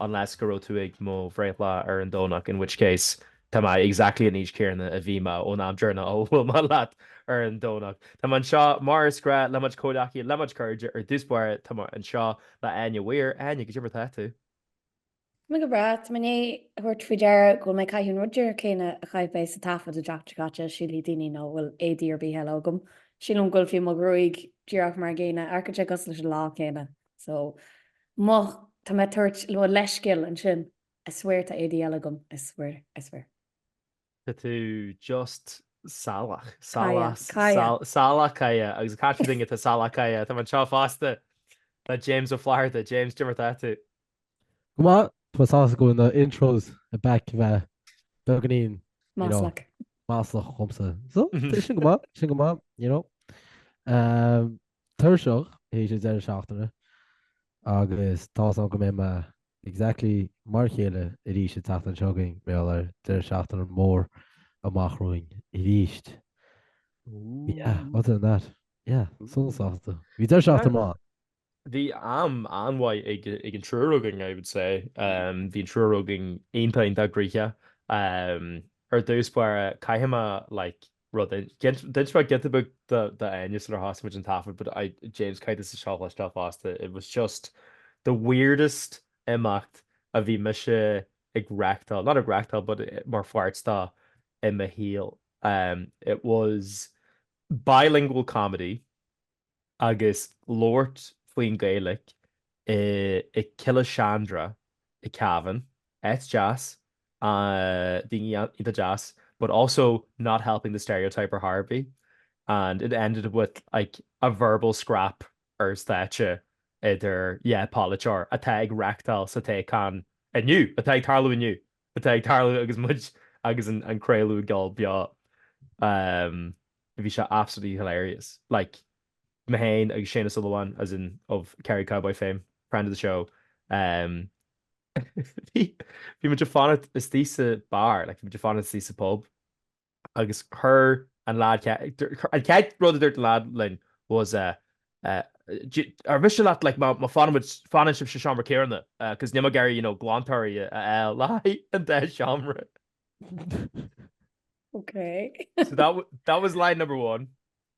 unless go raibh tú ag mo bhreithlá ar an Domhnach, in which case tá mé exactly an aois céarna a bhí mé ón am deireanach a bhuail mé leat ar an Domhnach. Tá mé anseo mar is gnách le mo chuid comhghleacaithe, le mo chuid cairde, ar dtús báire tá mé anseo le Áine Mhaoir. Áine, cad é mar tá tú? Tá mé go breá, tá mé i ndiaidh tabhairt faoi deara go bhfuil mé ag caitheamh an rud dearg céanna a chaith mé sa taifead an tseachtain seo caite, sílfidh daoine nach bhfuil éadaí ar bith eile agam. Sílim go bhfuil fiú mo ghruaig díreach mar an gcéanna, architect cosúil leis an lá céanna. So, má tá mé ag tabhairt mo leithscéal ansin, I swear tá éadaí eile agam, I swear, I swear. Tá tú just salach. Salach. Caille. Salach cáidheach. Agus ag caint ar dhuine atá salach cáidheach, tá mé anseo fosta le James Ó Flatharta. James, cad é mar atá tú? Go maith. Tá mé sásta go bhfuil na intros back a bheith beagáinín, you know, Maslach. maslach dhomsa. So, tá sin go maith, sin go maith, you know. Tuirseach tar éis an deireadh seachtaine agus tá fhios agam go mbeidh mé exactly mar a chéile arís an tseachtain seo chugainn, mar beidh deireadh seachtaine mór amach romhainn arís. Yeah, Ooh. other than that, yeah, sona sásta. Bhí deireadh seachtaine maith. Bhí am an-mhaith ag an triúr againn, I would say. Bhí an triúr againn iontach, iontach gnoitheach. Ar dtús báire, caithfidh mé like rud é. D'inis mé giota beag d'Áine sular thosaigh muid an taifead but I, James caithfidh tusa seo a chloisteáil fosta, it was just the weirdest imeacht a bhí mise ag reachtáil, not ag reachtáil but mar pháirt de i mo shaol. It was bilingual comedy agus labhairt faoin Gaeilic i i Killeshandra i Cavan, áit deas, daoine iontach deas but also not helping the stereotype ar chor ar bith and it ended with like a verbal scrap ar stáitse idir dhá pholaiteoir atá ag reachtáil sa toghchán inniu, atá ag tarlú inniu! atá ag tarlú agus muid agus an craolú ag dul beo bhí sé absolutely hilarious like me féin agus Séaghan Ó Súilleabháin as in of Kerry Cowboy fame friend of the show bhí muid ag fanacht istigh sa beár like bhí muid ag fanacht istigh sa pub agus chuir an lad, an chéad rud a dúirt an lad linn was eh Ar mhiste leat like má fanann sibhse sa seomra céarna cos níl mé ag iarraidh you know glántóirí a fháil le haghaidh an dá seomra. Ok. So that was line number one.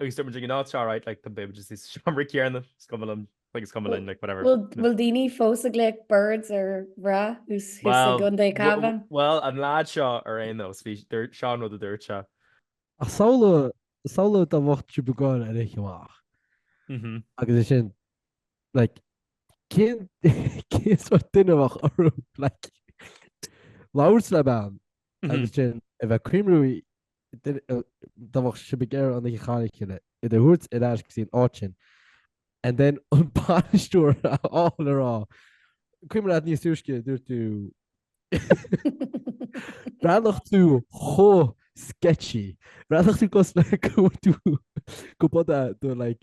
Agus tá muid ag an áit seo right like tá beidh muid is sa seomra céanna is cuma liom like is cuma linn like whatever. Bhfuil bhfuil daoine fós ag glaoch birds ar mhná thuas thuas i gContae Cavan? Bhuel an leaid seo ar aon nós bhí dúirt seo an rud a dúirt sé. Ach samhlaigh samhlaigh dá bheadh sibh ag gabháil ar oíche amach agus ansin like cén cén sórt duine a bheadh orthu like labhairt le bean agus sin a bheith cuimhniú Dá mbeadh sibh ag iarraidh an oíche a chaitheamh le chéile í a thabhairt ar ais go dtí an áit sin and then an bainisteoir a fháil ag rá Cuimhin leat níos túisce a dúirt tú Bhreathnódh tú chomh sketchy. Bhreathnódh tú cosúil le go bhfuil tú go buda do like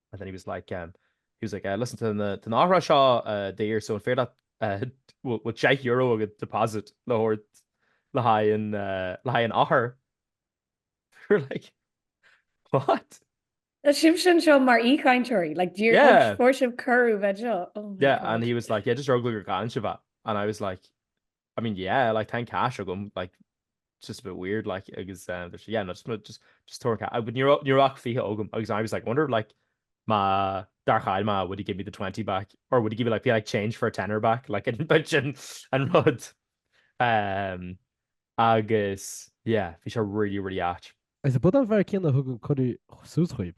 and then he was like um he was like listen tá na heochracha seo daor so an féidir leat bhfuil bhfuil deich euro agat deposit le thabhairt le haghaidh an le haghaidh an eochair we were like what? Tá sibh anseo mar aoichainteoirí like do you yeah fuair sibh cuireadh bheith anseo oh yeah and he was like yeah just ar eagla go gcailleann sibh é and I was like I mean yeah like tá an cash agam like it's just a bit weird like agus um, there's- yeah no just ma- just just tóir an cash but ní ra- ní raibh ach 20 agam agus I was like wonder like má dar cháil má would he give me the 20 back or would he give me like be like change for a tenner back like an bit sin an rud um, agus yeah bhí sé really really áit Is i bpudán fear céanna a thug an cuireadh suas dhaoib.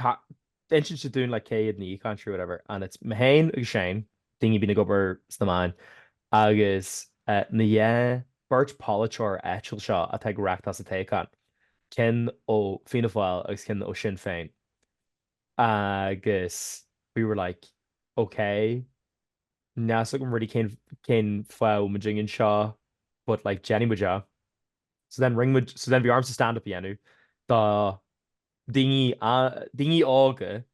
Tá insint sé dúinn like cé hiad na haoichainteoirí whatever and it's me féin agus Shane, daoine a bhíonn ag obair sna meáin agus na dhá beirt polaiteoir áitiúil seo atá ag rith sa toghchán, ceann ó Fianna Fáil agus ceann ó Shinn Féin agus we were like ok níl a fhios agam really cén cén fáth a bhfuil muidne anseo but like déanfaidh muid é. So then rinne muid so then bhí ormsa stand up a dhéanamh do daoine óga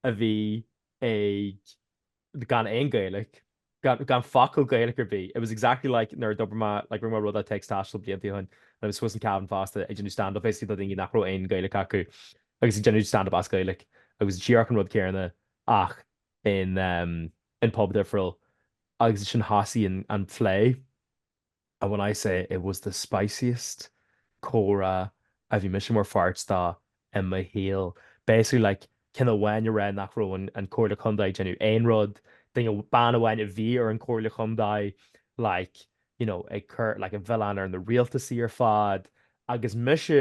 a bhí ag gan aon Gaeilge, gan focal Gaeilge ar bith. It was exactly like nuair a d'obair mé, like rinne mé rud at Text Taistil blianta ó shin and it was I suppose in Cavan fosta ag déanamh stand-up basically do dhaoine nach raibh aon Gaeilge acu agus ag déanamh stand-up as Gaeilge agus díreach an rud céanna ach in, um, in pub difriúil agus ansin thosaigh an, an plé. and when I say it was the spiciest comhrá a bhí mise mar pháirt de i mo shaol basically like ceann amháin ag rá nach raibh an Comhairle Contae ag déanamh aon rud duine bean amháin a bhí ar an Comhairle Chontae like you know ag cur like an mhilleán ar na rialtasaí ar fad agus mise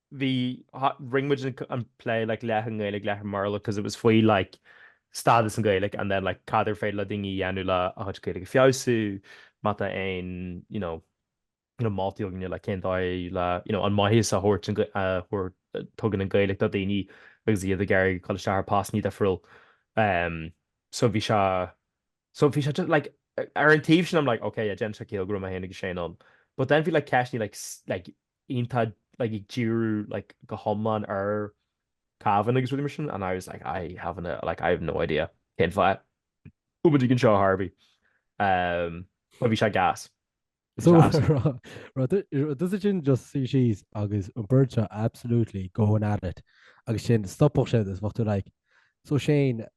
bhí rinne muid an plé like leath i nGaeilge leath i mBéarla because it was faoi like stádas an Ghaeilge and then like cad ar féidir le daoine dhéanamh le a chuid Gaeilge a feabhsú má tá aon you know you know moltaí againne like cén dóigh le you know an maitheas a thabhairt an a thabhairt a tugann an Ghaeilge do daoine agus iad ag éirí ag dul isteach ar postanna difriúil ehm so bhí sé so bhí sé just like ar an taobh sin I'm like ok yeah déanann sé ciall go raibh mé féin agus Shane ann but then bhí like ceisteanna like like iontach like ag díriú like go hiomlán ar Cavan agus rudaí mar sin and I was like I have no like I have no idea cén fáth go bhfuil siad anseo a Harvey. Um but bhí sé gas. So tá siad ansin just suí síos agus an bheirt seo absolutely going at it agus sin stopfadh sé is bhachta like so Shane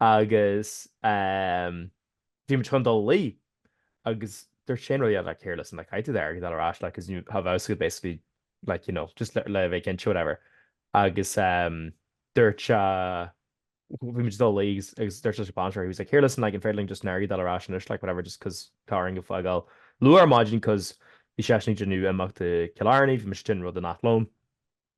Agus bhí muid chun dul a luí agus dúirt Shane rudaí like here listen like caithfidh tú d'airgead a fháil ar ais like cuz you have abscond basically like you know just le bheith cinnte whatever agus dúirt sé bhí muid ag dul a luí agus dúirt leis an bainisteoir he was like here listen like an féidir linn just an airgead a fháil ar ais anois like whatever just cuz tá orainn fágáil luath ar maidin cuz bhí seisean ag déanamh imeacht i gCill Airne bhí muid ag déanamh rud in Athlone.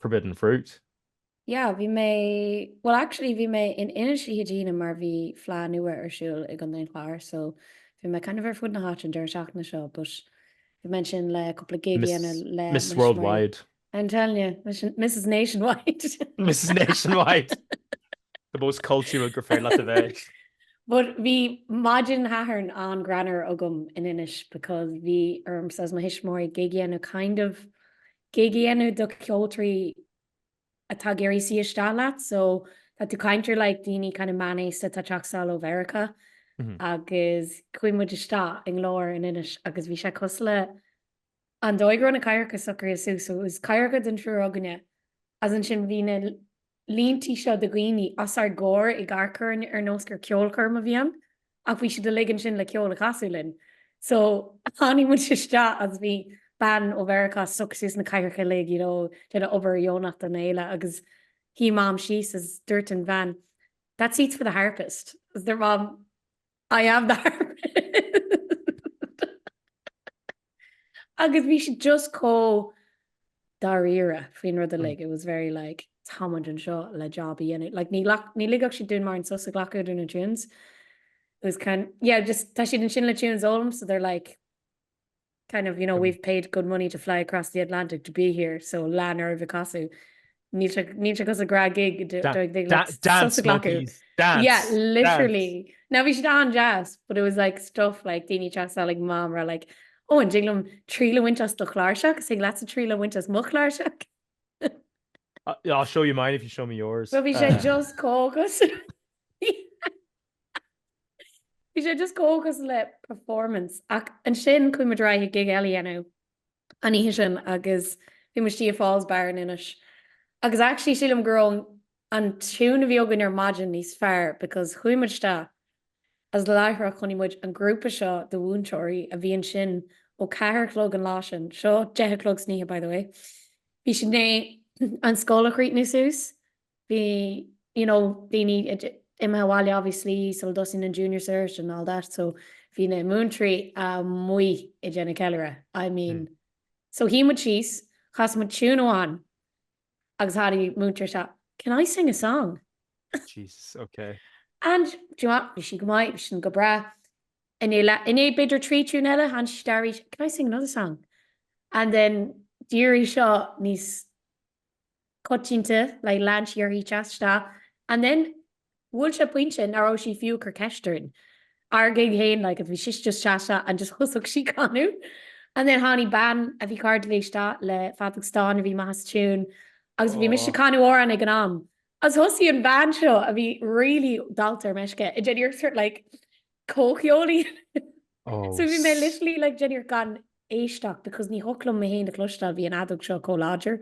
Forbidden Fruit. Yeah, bhí mé, well actually bhí mé in Inis oíche Dé hAoine mar bhí Fleadh Nua ar siúl i gContae an Chláir so bhí mé kind of ar fud na háite an deireadh seachtaine seo but bhí mé ansin le cúpla gig a dhéanamh le Miss Worldwide. I'm telling you, Mrs Nationwide. Mrs Nationwide! The most cultural gur féidir leat a bheith. But bhí maidin Shathairn an-greannmhar agam in Inis because bhí ormsa is mo thuismitheoirí gig a dhéanamh kind of gig a dhéanamh do cheoltóirí atá ag iarraidh suí isteach leat? So tá tú ag caint ar like daoine kind of meánaosta atá ag teacht isteach ó Mheiriceá agus chuaigh muid isteach i nGlór in Inis agus bhí sé cosúil le an dóigh a raibh na cathaoireacha socraithe suas. So it was cathaoireacha don triúr againne. Is ansin bhí na. línte seo de dhaoine os ár gcomhair ag amharc orainn ar nós gur ceolchoirm a bhí ann ach bhí siad uilig ansin le ceol a chasadh linn so tháinig muid isteach agus bhí bean ó Mheiriceá ag socrú suas na cathaoireacha uilig you know déanamh obair dheonach don fhéile agus shuigh mam síos agus dúirt an bhean that seat's for the harpist agus dúirt mam I am the harpist. Agus bhí siad just chomh dáiríre faoin rud uilig. It was very like támuid anseo le job a dhéanamh. Like, ní, ní ligfeadh siad dúinn mórán sos a ghlacadh idir na tunes. It was kind, yeah, just tá siad ansin le tunes a fhoghlaim so they're like, kind of you know we've paid good money to fly across the Atlantic to be here so lean oraibh ag casadh níl sé níl sé cosúil le gnáth gig dance monkeys dance yeah literally now bhí siad an-deas but it was like stuff like daoine ag teacht suas chuig mam ag rá like ó an dtig liom triail a bhaint as do chláirseach agus tig leatsa triail a bhaint as mo chláirseach I'll show you mine if you show me yours. Well bhí sé just chomh gas. Bhí sé just chomh cosúil le performance ach ansin chuaigh muid ar aghaidh ag gig eile a dhéanamh an oíche sin agus bhí muid istigh i Fawl's Bar in Inis agus actually sílim go raibh an tune a bhí againn ar maidin níos fearr because chuaigh muid isteach as láithreach chonaic muid an grúpa seo de mhúinteoirí a bhí ansin ó ceathair a chlog an lá sin, seo deich a chlog san oíche by the way, bhí siad i ndiaidh an scoil a chríochnú suas bhí you know daoine imithe abhaile obviously sula dtosaigh an junior cert and all that so bhí na múinteoirí amuigh ag déanamh ceiliúradh I mean mm. so shuigh muid síos chas muid tune amháin agus tháinig múinteoir isteach can I sing a song? Jesus, okay. And do you know what? Bhí sin go maith bhí sin go breá i ndiaidh b'fhéidir trí tune eile tháinig sí isteach arís can I sing another song? And then d'éirigh seo níos coitianta like lean sí uirthi teacht isteach and then bhuail sé pointe nach raibh sí fiú ag cur ceist orainn ár gig féin like bhí sí just teacht isteach and just thosaigh sí ag canadh and then tháinig bean a bhí cairde léi isteach le feadóg stáin a bhí amach as tiún agus bhí mise ag canadh amhrán ag an am agus thosaigh an bean seo a bhí really dallta ar meisce ag déanamh iarracht sort like comhcheol léi. Oh, So bhí mé s- literally like ag déanamh iarracht gan éisteacht because ní thiocfadh liom mé fhéin a chloisteáil bhí an fheadóg seo chomh láidir.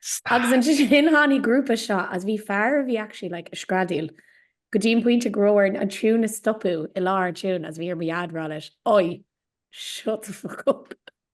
Stop. Agus ansin tháinig an grúpa seo as bhí fear a bhí actually like ag screadaíl go dtí an pointe go raibh orainn an tune a stopadh i lár an tune as bhí ar mo dhaid a rá leis, Oi! Shut the fuck up!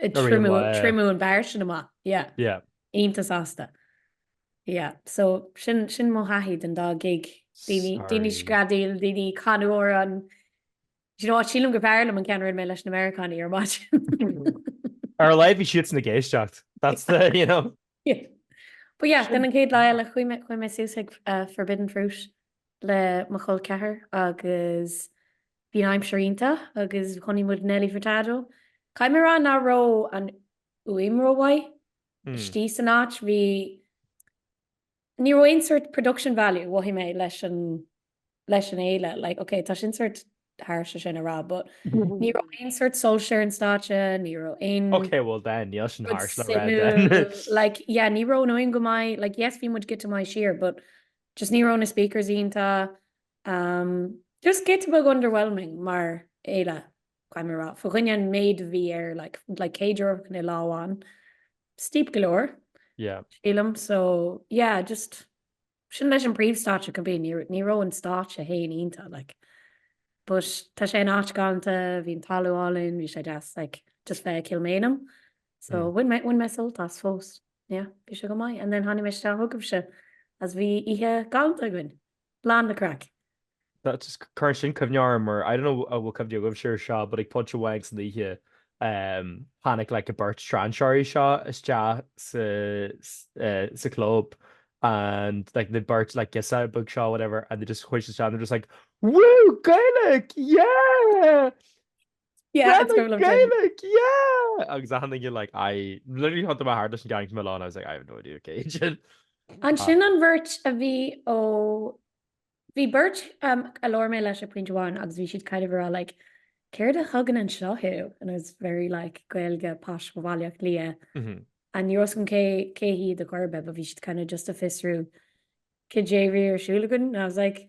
Triomú an beár sin amach. Iontach sásta. So sin mo thaithí den dá gig. Daoine ag screadaíl, daoine ag canadh amhráin, ach sílim gur b'fhearr liom an ceann a rinne mé leis na Meiriceánaigh ar maidin. Ar a laghad bhí siadsan ag éisteacht. That's the, you know. But yeah, then an chéad lá eile chuaigh mé suas ag Forbidden Fruit le mo chol ceathar agus Bhí an aimsir iontach agus chonaic muid Nelly Furtado, caithfidh mé a rá nach raibh an fhuaim rómhaith, istigh san áit. Bhí, ní raibh aon sort production value, mhothaigh mé, leis an, leis an fhéile. Like, ok, tá sin sort harsh sin a rá, but ní raibh aon sort soilse ar an stáitse, ní raibh aon. Ok, well then, níl sin harsh le rá then. Like, yeah, ní raibh an fhuaim go maith, like, yes, bhí muid giota maith siar, but just ní raibh na speakers iontach, Am, Just giota beag underwhelming mar fhéile, caithfidh mé a rá, fá choinne an méid a bhí air, like, like céad euro fá choinne lá amháin, steep galore, Yeah. sílim, so, yeah, just, sin leis an príomhstáitse go binn, ní, ní raibh an stáitse fhéin iontach, like, but tá sé in áit galanta, bhí an talamh álainn, bhí sé deas, like, just bheith ag Kilmainham, so, Mm. bhain mé, bhain mé sult as fós, yeah, bhí sé go maith, and then tháinig mé isteach chugaibhse as bhí oíche galanta againn. Lán le craic! That just cuireann sin cuimhne orm ar, I don't know an bhfuil cuimhne agaibhse ar seo, but ag Punchy Wags san oíche, tháinig like an beirt strainséirí seo isteach sa club and like na beirt like giuseppe beag seo whatever and they just chuaigh siad isteach and they were just like, woo! Gaelic! Yeah! Yeah, it's going on. Gaelic, yeah! Agus I'm thinking like, I literally thiontaigh mé thart leis an gang iomlán, I was like, I have no idea, okay. Ansin an bheirt a bhí ó bhí beirt um, a labhair mé leis ag pointe amháin agus bhí siad kind of ag rá like céard a thugann anseo thú and I was very like Gaeilge, bus go Baile Átha Cliath mm -hmm. and ní raibh a fhios agam cé cé hiad ar chor ar bith, but bhí siad kind of just ag fiosrú cad é a bhí ar siúl againn and I was like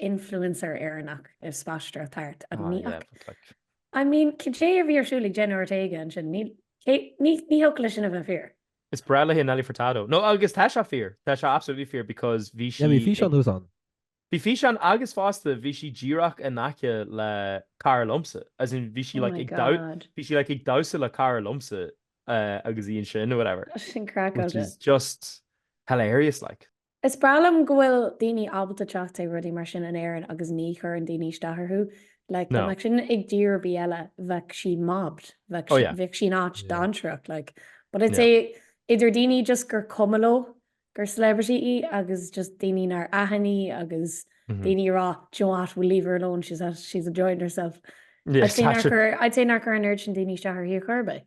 influencer Éireannach ag spaisteoireacht thart agus ní fhaca. Ah yeah, but like. I mean, cad é a bhí ar siúl ag Jenna Ortega ansin? Ní, cé, ní, ní thiocfadh leis sin a bheith fíor. Is breá léi Nelly Furtado. No, agus tá sé fíor. Tá sé absolutely fíor because bhí sí Yeah, bhí físeán ag, thuas ann. bhí físeán agus fosta bhí sí díreach in aice le cara liomsa. As in bhí sí Oh like my ag damh, god. bhí sí like ag damhsa le cara liomsa eh, agus í ansin or whatever. Tá sin which craiceáilte. is just hilarious like. Is breá liom go bhfuil daoine ábalta teacht ag rudaí mar sin in Éirinn agus ní chuireann daoine isteach orthu. Like, No. dá mbeadh sin i dtír ar bith eile, bheadh sí mobbed, bheadh Oh, sí, yeah. bheadh sí in áit Yeah. dainséarach, like. But I'd Yeah. say idir daoine just gur cuma leo gur celebrity í agus just daoine nár aithin í agus Mhm. daoine a rá, do you know what, we'll leave her alone, she's, at, she's enjoying herself. Yeah, I'd say nár that's it. chuir, I'd say nár chuir an oiread sin daoine isteach uirthi a chor ar bith.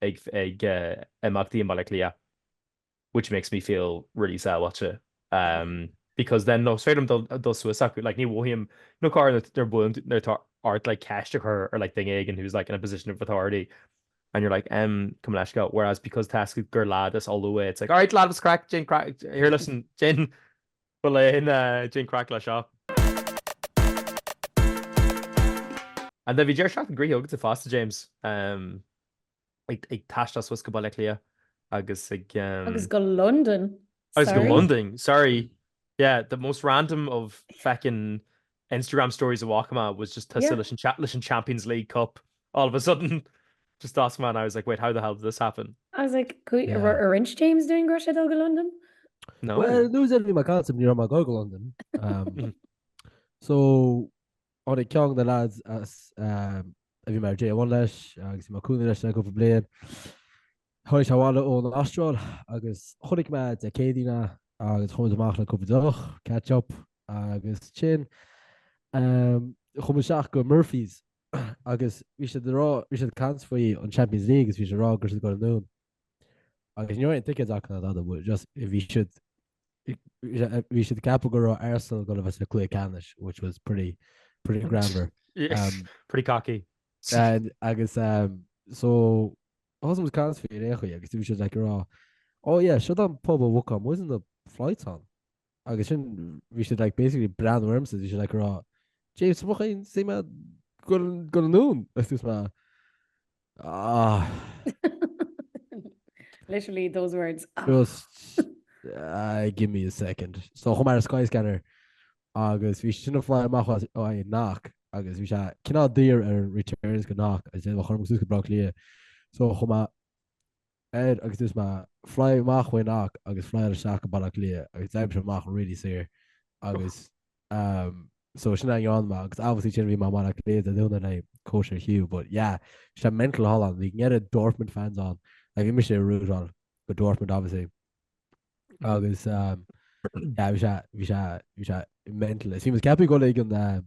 ag imeachtaí i mBaile Átha Cliath which makes me feel really sábháilte because then no is féidir liom dul suas chucu like ní mhothaím nó corruair bíonn nó tá ort like ceist a chur ar like duine éigin who's like in a position of authority and you're like um gabh mo leithscéal whereas because toisc gur lad as Lú é it's like all right lad what's the craic cad é an craic here listen cad é an Bhuel an, cad é an craic leis seo. And then bhí deireadh seachtaine gnoitheach agat fosta James, ag taisteal suas go Baile Átha Cliath agus ag. Agus go Londain, sorry. Agus go Londain, sorry. Yeah, the most random of feckin Instagram stories a walk ma was just tusa leis an chat leis an Champions League Cup all of a sudden just ask man I was like wait how the hell did this happen I was like could yeah. were orange James doing Gro go London no well, lose every my concept near my go London um, so on a kong the lads as um, every mar J one leis agus ma cool leis go blian Tháinig sé abhaile ón Astráil agus chonaic mé Dé Céadaoin é agus chuamid amach le cúpla deoch, catch up agus ansin ehm chuamid isteach go Murphy's agus bhí siad a' rá, bhí siad a' caint faoi an Champions League agus bhí siad a' rá go raibh siad a' gabháil anonn agus ní raibh aon ticéid acu ná dada but just bhí siad bhí siad ag ceapadh go raibh Arsenal gonna bheith sa cluiche ceannais which was pretty pretty greannmhar Yes, pretty cocky. agus ehm so Thosaigh muid ag caint faoi ar aon chaoi agus bhí siad like ag rá Oh yeah, seo an pub a bhuacáil muid na flights ann. Agus sin bhí siad like basically ag breathnú ormsa bhí siad like ag rá James tá mo chroí istigh go dtige tú anonn agus dúirt mé Ah. Literally those words. Just uh, give me a second. So chuaigh mé ar Skyscanner agus bhí sé sin ag fly amach as Knock agus bhí sé cineál daor ar an returns go Knock agus é chun suas go Bleá Cliath so chuaigh mé air agus dúirt mé fly amach ó Knock agus fly ar ais isteach go Bleá Cliath agus d'oibrigh sé amach really saor agus um, so sin a rinne mé agus obviously sin bhí mé in ann a ghabháil go dtí cóisir Hugh but yeah bhí sé mental thall ann bhí an oiread Dortmund fans ann like bhí mise ag rootáil go Dortmund obviously agus um, yeah, bhí sé bhí sé bhí sé mental. Is bhí mé ag ceapadh go like an um,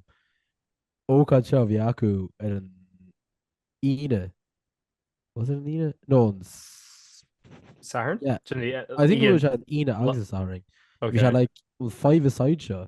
ócáid seo bhí acu ar an Aoine. Was it an Aoine? No, an s- Satharn? Yeah. Sin í- I think it was an Aoine agus an Satharn. Bhí sé Okay. like an five-a-side seo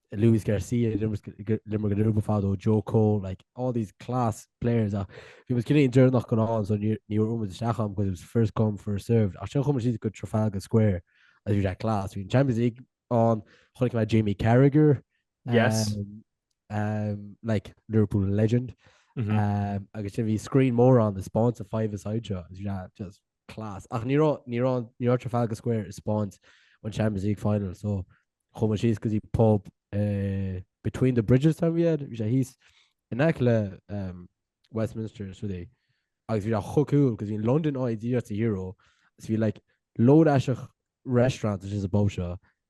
Luis Garcia limmer go Ruba fado Joe Cole like all these class players are he was getting during knock on so near near room with Shacham because it was first come first served I should come she's good Trafalgar Square as you that class we Champions League on like my Jamie Carragher yes um, um like Liverpool legend mm -hmm. um I guess if he screen more on the sponsor five aside just class. Ach ní raibh, ní raibh, ní raibh Trafalgar Square ag spáint an Champions League final, so chuaigh muid síos go dtí pub uh, Between the Bridges tá mé a cheapadh, bhí sé thíos in aice le um, Westminster is rudí. Agus bhí sé chomh cool, cos bhí London ag déanamh a hero, is bhí like load isteach restaurant is is a bob seo,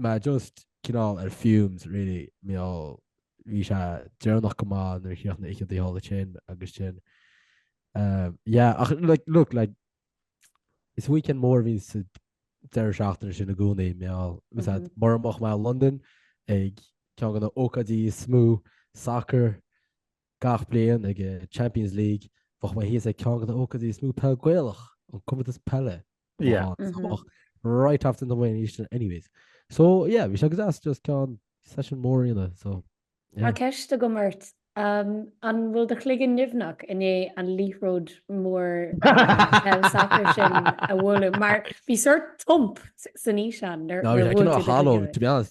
Mé just cineál ar fumes really mar gheall bhí sé deireanach go maith nuair a chríoch na hoícheantaí thall ansin agus sin umm yeah ach like look like is weekend mór a bhí sa deireadh seachtaine sin i gcónaí mar gheall is dócha mura mbeadh mé i Londain ag ceann de na hócáidí is mó soccer Gach bliain ag Champions League bheadh mé thíos ag ceann de na hócáidí is mó peil Gaelach, an Comórtas Peile. Right after the Wynne's Aodh anyways. So yeah, bhí sé go deas just ceann session mór a dhéanamh so. Tá ceist agam ort, an bhfuil do chloigeann nimhneach i ndiaidh an liathróid mhór peile sacair sin a bhualadh mar bhí sort thump san fhíseán nuair a bhuail tú do chloigeann?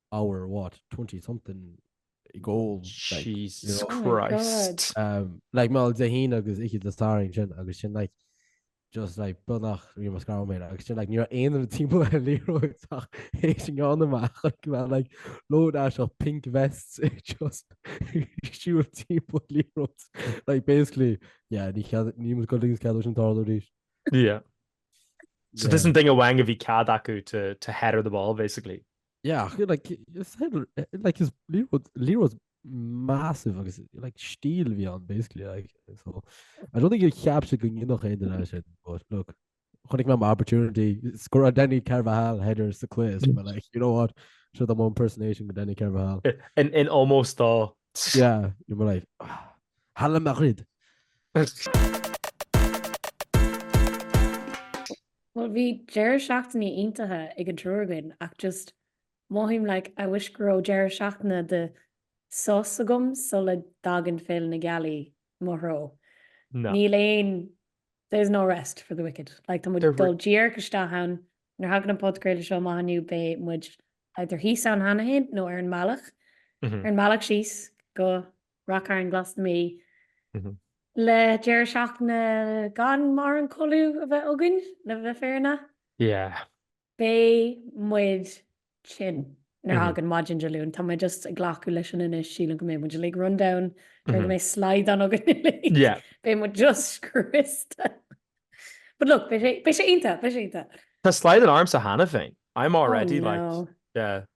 hour what 20 something goal Jesus like, oh Christ oh um, like mal de hin agus ik de starring sin agus sin like just like bunach vi mas gar mé agus sin like ni ein an team leroach hé sin gan amach like load as of pink vests just siú team lero like basically yeah ni ni go lings ke an tardéis yeah so yeah. this an thing a wang a vi cad acu to to head of the ball basically Yeah, like, it's had, like his Lee was, Lee was massive agus like stíl bhí an basically like so I don't think you capture go nach é den sin but look chunig me opportunity score a Danny Carvajal header sa quiz but like you know what so the one impersonation go Danny Carvajal in in almost dá yeah you were like Halla Madrid Bhuel bhí deireadh seachtaine iontach ag an triúr againn ach just mothaím like I wish go raibh deireadh seachtaine de sos agam sula dtagann Féile na Gealaí mo threo. Níl aon there's no rest for the wicked. Like tá muid dul díreach isteach ann, nuair thagann an podcraoladh seo amach inniu beidh muid either thíos ann cheana féin nó ar an mbealach ar an mbealach síos go Ráth Chairn Glas na Mí le deireadh seachtaine gan mórán codladh a bheith againn le bheith fírinneach. Yeah. Beidh muid tinn nuair a thagann maidin Dé Luain. Tá mé just ag glacadh leis sin anois, sílim go mbeidh muid uilig run down, sílim go mbeidh slaghdán againn uilig. Yeah. Beidh muid just scriosta. But look, beidh sé iontach, beidh sé iontach. Tá slaghdán ormsa cheana féin. I'm already like, yeah.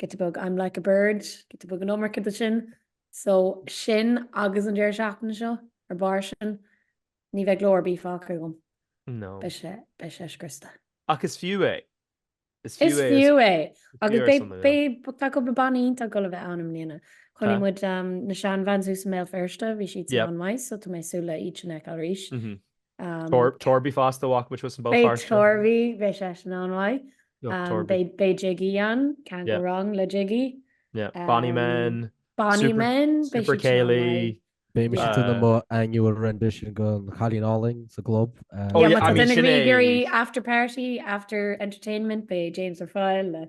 Giota beag, I'm like a bird, giota beag an iomarca de sin. So sin agus an deireadh seachtaine seo ar barr sin, ní bheidh glór ar bith fágtha agam. No. Beidh sé, beidh sé scriosta. Ach is fiú é. Is fiú é. Is fiú é. Agus beidh, beidh, tá cúpla banna iontach ag dul a bheith ann i mbliana. Chonaic muid na Shan Vans thuas i mBéal Feirste, bhí siad sin an-mhaith, so tá mé ag súil le iad sin a fheiceáil arís. Torby fast to walk which was about fast. Beidh Torby, beidh sé sin an-mhaith. Beidh Jiggy ann, can't go wrong le Jiggy. Bonny men. Bonny men. Super Céilí. Beidh mise ag déanamh mo annual rendition den Chailín Álainn sa gclub. Bhí sin ag iarraidh after party after entertainment beidh James Ó Foighil le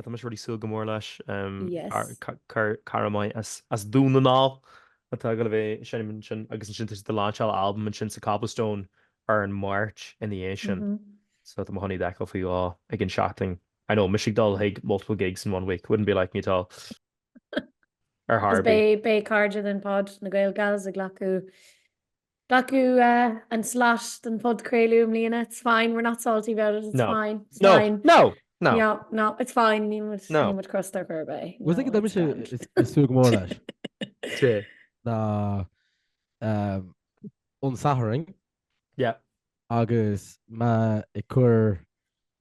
Tá mise really ag súil go mór leis. Cara maith as Dún na nGall atá ag dul a bheith ansin agus ansin tá siad ag lainseáil albam ansin sa Cobblestone ar an Máirt ina dhiaidh sin. So tá mé chun iad a fheiceáil faoi dhó. Again, shocking, I know, mise ag dul chuig multiple gigs in one week, wouldn't be like me at all. Ar chor ar bith. Is beidh cairde den Pod na Gael Gals ag glacadh Glacadh an slot don phodchraoladh i mbliana. It's fine, we're not salty about it, it's fine, it's fine. No, no, no. No, no, it's fine, níl muid, níl muid crosta ar chor ar bith. Rud éigin atá mise ag súil go mór leis. Cé? Ná an Satharn. Yeah. Agus mé ag cur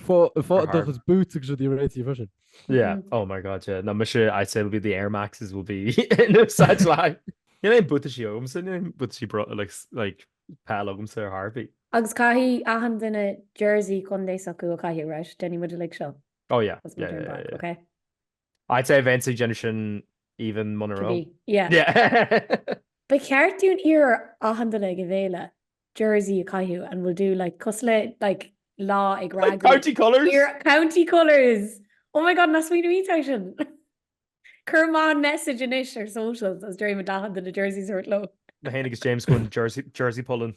Fá dochas boots agus rudaí réitithe freisin. Yeah, mm-hmm. oh my god, yeah. No, mise I'd say it'll be the Air Maxes will be in no such like. Níl aon buataisí agamsa, buataisí bro like peil agamsa ar chor ar bith. Agus caithfidh achan duine jersey contae s'acu, caithfidh, right, déanfaidh muid uilig seo. Oh yeah, yeah, yeah, yeah, yeah. Okay. I'd say beidh siad ag déanamh sin even muna raibh. Beidh, yeah. yeah. Ba cheart dúinn iarraidh ar achan duine ag an bhféile jersey a chaitheamh and we'll do like cosúil le like lá ag ragú. Like county colours? Yeah, county colours! Oh my god, nach smaoineamh maith sin. Cuirfidh mé an message anois ar socials is déarfaidh mé d'achan duine jerseys a thabhairt leo. Na hain agus James gon jersey, jersey pollen.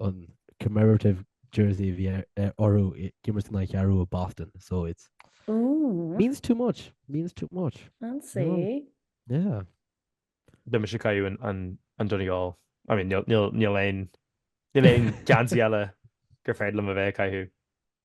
an commemorative jersey a bhí orthu ag imirt in aghaidh Ceathrú Rua Boston so it's means too much means too much fancy yeah Beidh mise ag caitheamh an Donegal I mean níl aon níl aon geansaí eile gur féidir liom a bheith ag caitheamh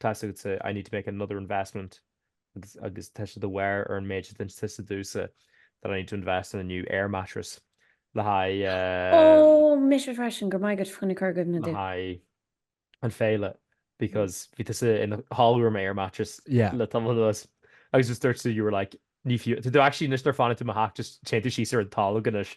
Tá's agatsa, I need to make another investment agus tá sé de bharr ar an méid a dúirt tusa domhsa that I need to invest in a new air mattress le haghaidh. Ó, mise freisin, go raibh maith agat faoina chur i gcuimhne domh. le haghaidh an féile because bhí tusa in do chodladh ar mo air mattress Yeah. le tamall anuas agus just dúirt tú you were like ní fiú tada actually anois nuair a fanann tú i mo theach just téann tú síos ar an tolg anois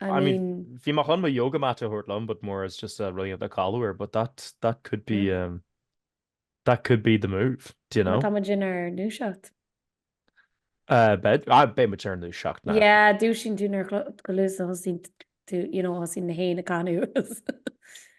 I mean, bhí mé chun mo yoga mat a thabhairt liom but more as just rud éigin le codladh air but that that could be um that could be the move, do you know? Má tá muid inár ndúiseacht. Uh beidh, ah beidh muid inár ndúiseacht no. Yeah, dúisíonn tú nuair chomh luath is a thosaíonn tú, you know, thosaíonn na héin ag canadh.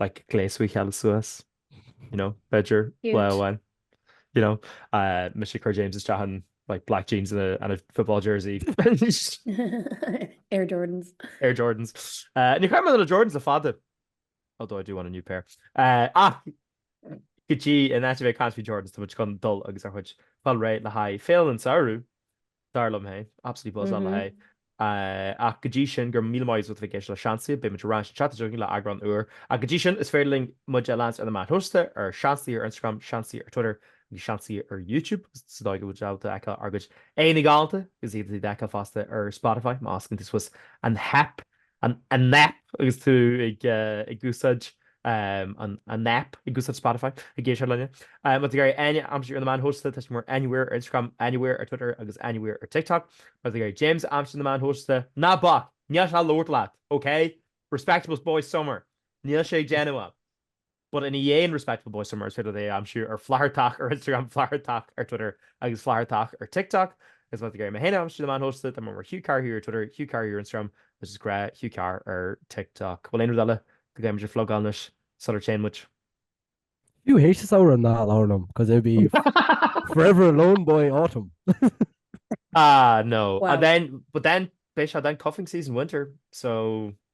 like gléasadh a chéile suas you know b'fhéidir lá amháin you know mise ag cur James isteach in like black jeans and a, and a football jersey Air Jordans Air Jordans uh, níor chaith mé na Jordans le fada although I do want a new pair uh, ach go dtí in áit a bheith ag caint faoi Jordans tá muid chun dul agus ár gcuid fáil réidh le haghaidh féile an samhradh Dar liom féin. Absolutely buzzing le haghaidh. Ach go dtí sin, go raibh míle maith agat as a bheith ag éisteacht le Seansaí, beidh muid ar ais an tseachtain seo chugainn le eagrán úr. Ach go dtí sin, is féidir libh muid a leanstan ar na meáin shóisialta, ar Seansaí ar Instagram, Seansaí ar Twitter agus Seansaí ar YouTube. Sa dóigh go bhfuil siad á fheiceáil ár gcuid aghaidheanna galánta, is féidir iad a fheiceáil fosta ar Spotify, má osclaíonn tú suas an haip An App Agus tú ag úsáid an App, ag úsáid Spotify, ag éisteacht linn, má tá tú ag iarraidh Áine a aimsiú ar na meáin shóisialta, tá sí mar Anywhere ar Instagram, Anywhere ar Twitter agus Anywhere ar TikTok. Má tá tú ag iarraidh James a aimsiú ar na meáin shóisialta, ná bac, níl sé ag labhairt leat, ok? Respectable boy summer, níl sé ag déanamh ann. But in ainneoin respectable boy summer thig libh é a aimsiú ar Flathartach ar Instagram, Flathartach ar Twitter agus Flathartach ar TikTok. Is má tá tú ag iarraidh mé féin a aimsiú ar na meáin shóisialta, tá mé mar Hugh Carr here ar Twitter, Hugh Carr here ar Instagram agus is grá Hugh Carr ar TikTok. Bhfuil aon rud eile go gcaithfidh muid a phlugáil anois sular téann muid? Hugh H is eadh ná labhair liom cos it'd be forever alone boy autumn. Ah no. Well. But then beidh sé then cuffing season winter so.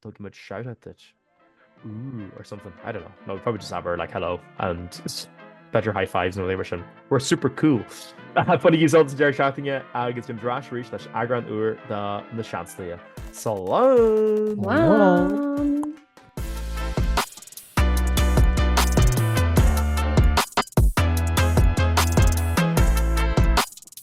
thug muid seouthe duit ooh or something I don't know no probably just have her like hello and it's better high fives and labor sin we're super cool funny use all deir seatinge agus an dras rí leis agran úr de na seanlia Sal wow.